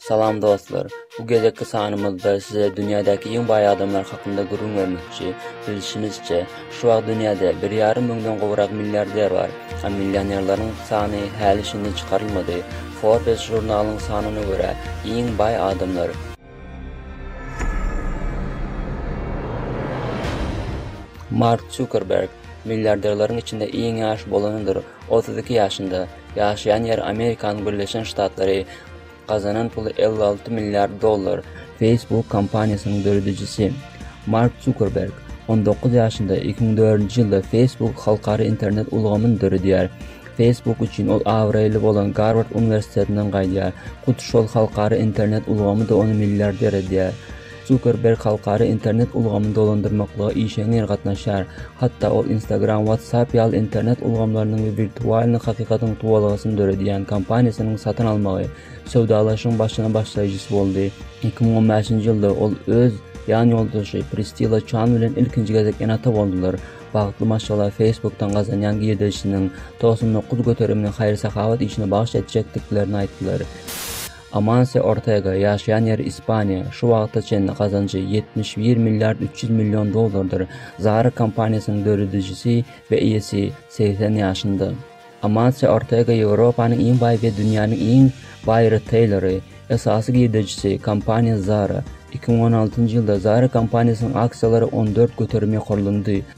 Salam dostlar! Bu gezekki sanymyzda size dünýädäki iň baý adamlar hakynda gürrüň bermekçi. Bilşimizçe, şu wagt dünýäde bir ýarym müňden gowrak milliarder bar. A millionerleriň sany häli-şindi çykarylmady. Forbes žurnalynyň sanyna görä, iň baý adamlar. Mark Zukerberg, milliarderleriň içinde iň ýaş bolanydyr, otuz iki ýaşynda. Ýaşaýan ýeri Amerikanyň Birleşen Ştatlary. Gazanan puly elli alty milliard dollar. Facebook kompaniýasynyň döredijisi Mark Zukerberg on dokuz ýaşynda iki müň dördünji ýylda Facebook halkara internet ulgamyny döredýär. Facebook üçin ol abraýly bolan Garward uniwersitetinden gaýdýar. Hut şol halkara internet ulgamy-da ony milliarder edýär. Zukerberg halkara internet ulgamyny dolandyrmaklyga işeňňir gatnaşýar, hatda ol Instagram, WhatsApp ýaly internet ulgamlarynyň we wirtualnyý hakykatyň tuwalgasyny döredýän kompaniýasynyň satyn almagy söwdalaşygyň başyna başlaýjysy boldy. Iki müň on bäşinji ýylda ol öz ýan ýoldaşy Pristila Çan bilen ilkinji gezek ene-ata boldular. Bagtly maşgala Facebook-dan gazanýan girdejisiniň togsan dokuz göterimini haýyr-sahawat işine bagyş etjekdiklerini aýtdylar. Amanse Ortega, ýaşaýan ýeri Ispaniýa, şu wagta çenli gazanjy ýetmiş bir milliard üç ýüz million dollardyr. Zara kompaniýasynyň döredijisi we eýesi, segsen ýaşynda. Amanse Ortega Ýewropanyň iň baý we dünýäniň iň baý riteýleri. Esasy girdejisi, kompaniýa Zara. Iki müň on altynjy ýylda Zara kompaniýasynyň aksiýalary on dört göterim ýokarlandy.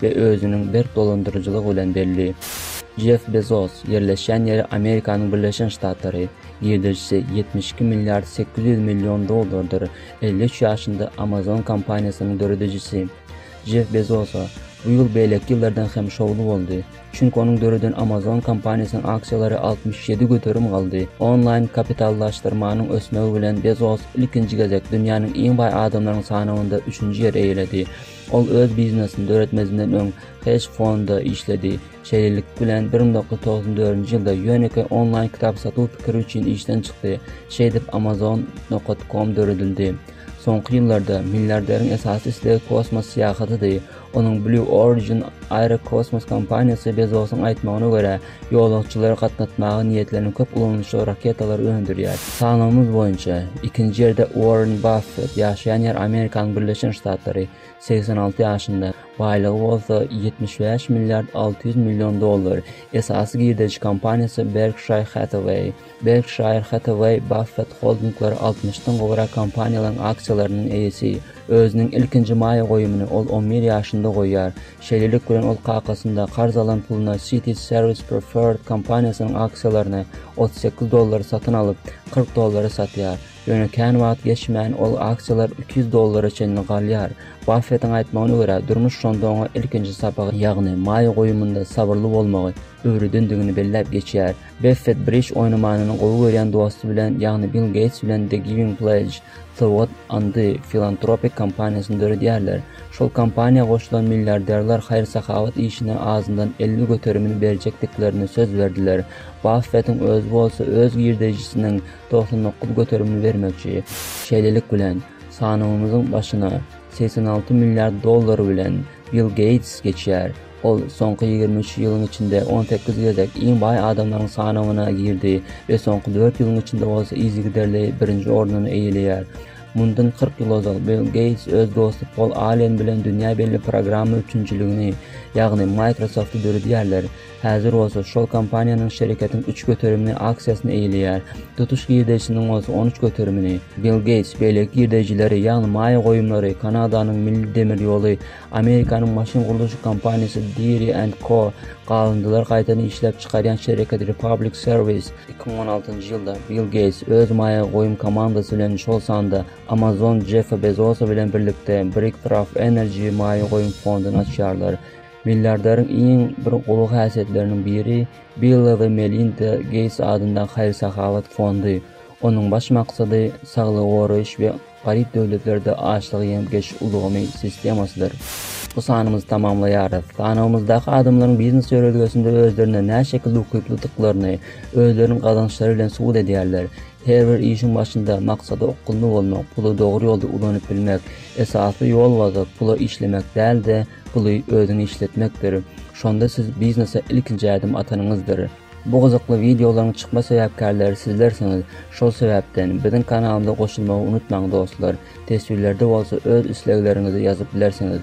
we özüniň berk dolandyryjylygy bilen belli. Jeff Bezos, ýerleşýän ýeri Amerikanyň Birleşen Ştatlary, girdejisi ýetmiş iki milliard sekiz ýüz million dollardyr, elli üç ýaşynda Amazon kompaniýasynyň döredijisi. Jeff Bezosa bu ýyl beýleki ýyllardan hem şowly boldy, çünki onuň döreden Amazon kompaniýasynyň aksiýalary altmyş ýedi göterim galdy. Onlaýn kapitallaşdyrmanyň ösmegi bilen Bezos ilkinji gezek dünýäniň iň baý adamlarynyň sanawynda üçünji ýeri eýeledi. Ol öz biznesini döretmezinden öň hedge fonda işledi. Şeýlelik bilen, bir müň dokuz ýüz togsan dördünji ýylda Ýöneke onlaýn kitap satuw pikiri üçin işden çykdy. Şeýdip, Amazon. Com döredildi. Soňky ýyllarda milliarderiň esasy islegi kosmos syýahatydy. Onuň Blue Origin aerokosmos kompaniýasy Bezosyň aýtmagyna görä, Ýolagçylary gatnatmaga niýetlenen köp ulanyşly raketalary öndürýär. Sanawymyz boýunça, ikinji ýerde Uorren Baffet, ýaşaýan ýeri Amerikanyň Birleşen Ştatlary, segsen alty ýaşynda, baýlygy bolsa ýetmiş bäş milliard alty ýüz million dollar, esasy girdeji kompaniýasy Berkshire Hathaway. Berkşaýr Hathaway Baffett Holdinglary altmyş dan gowrak kompaniýalaryň aksiýalarynyň eýesi. Özüniň ilkinji maýa goýumyny ol on bir ýaşynda goýýar. Şeýlelik bilen ol kakasynda karz alan puluna Citi Serwis Preferred kompaniýasynyň aksiýalaryny otuz sekiz dollara satyn alyp, kyrk dollara satýar. Ýöne kän wagt geçmän ol aksiýalar iki ýüz dollara çenli galýar. Baffetiň aýtmagyna görä, durmuş şonda oňa ilkinji sapagy, ýagny maýa goýumynda sabyrly bolmagy öwredendigini belläp geçýär. Beffet brij oýnamanyny gowy görýän dosty bilen, ýagny Bill Geýts bilen The Giving Pledge, Sowgat andy, filantropik kompaniýasyny döredýärler. Şol kompaniýa goşulan milliarderler haýyr-sahawat işine azyndan elli göterimini berjekdiklerini söz berdiler. Baffetiň özi bolsa öz girdejisiniň togsan dokuz göterimini bermekçi. Şeýlelik bilen, sanawymyzyň başyna segsen alty milliard dollary bilen Bill Geýts geçýär. Ol soňky ýigrimi üç ýylyň içinde on sekiz gezek iň baý adamlaryň sanawyna girdi we soňky dört ýylyň içinde bolsa yzygiderli birinji ornuny eýeleýär. Mundan kyrk ýyl ozal, Bill Geýts öz dosty Pol Allen bilen dünýä belli programma üpjünçiligini, ýagny Microsoft-y döredýärler. Häzir bolsa şol kompaniýanyň şereketiň üç göterimini aksiýasyny eýeleýär, tutuş girdeýjisiniň bolsa on üç göterimini. Bill Geýts beýleki girdeýjileri, ýagny maýa goýumlary Kanadanyň Milli demir ýoly, Amerikanyň maşyn gurluşyk kompaniýasy Deere and Co. Galyndylar gaýtadan işläp çykarýan şereketi Republic Service iki müň on altynjy ýylda Bill Geýts öz maýa goýum komandasy bilen, şol sanda Amazon Jeffi Bezosa bilen birlikde Bricktraf Energy maýa goýum fonduny açýarlar. Milliarderiň iň bir gowy häsiýetleriniň biri Bill we Melinda Geýts adyndaky haýyr-sahawat fondy. Onuň baş maksady saglygy goraýyş we Garyp döwletlerde açlygy ýemgeş ulgamy sistemasydyr. Bu sanymyzy tamamlaýarys. Sanawymyzdaky adamlaryň biznes ýörelgesinde özlerine näşekilde ukyplydyklaryny özleriniň gazançlary bilen subut edýärler. Her bir işiň başynda maksada okgunly bolmak, puly dogry ýolda ulanyp bilmek, esasy ýol waza pula işlemek däl-de, puly özüňe işletmekdir. Şonda siz biznese ilkinji ädim atanyňyzdyr. Bu gyzykly wideolaryň çykma sebäpkärleri sizlersiňiz, şol sebäpden, biziň kanalymyza goşulmagy unutmaň dostlar, teswirlerde bolsa öz islegleriňizi ýazyp bilersiňiz.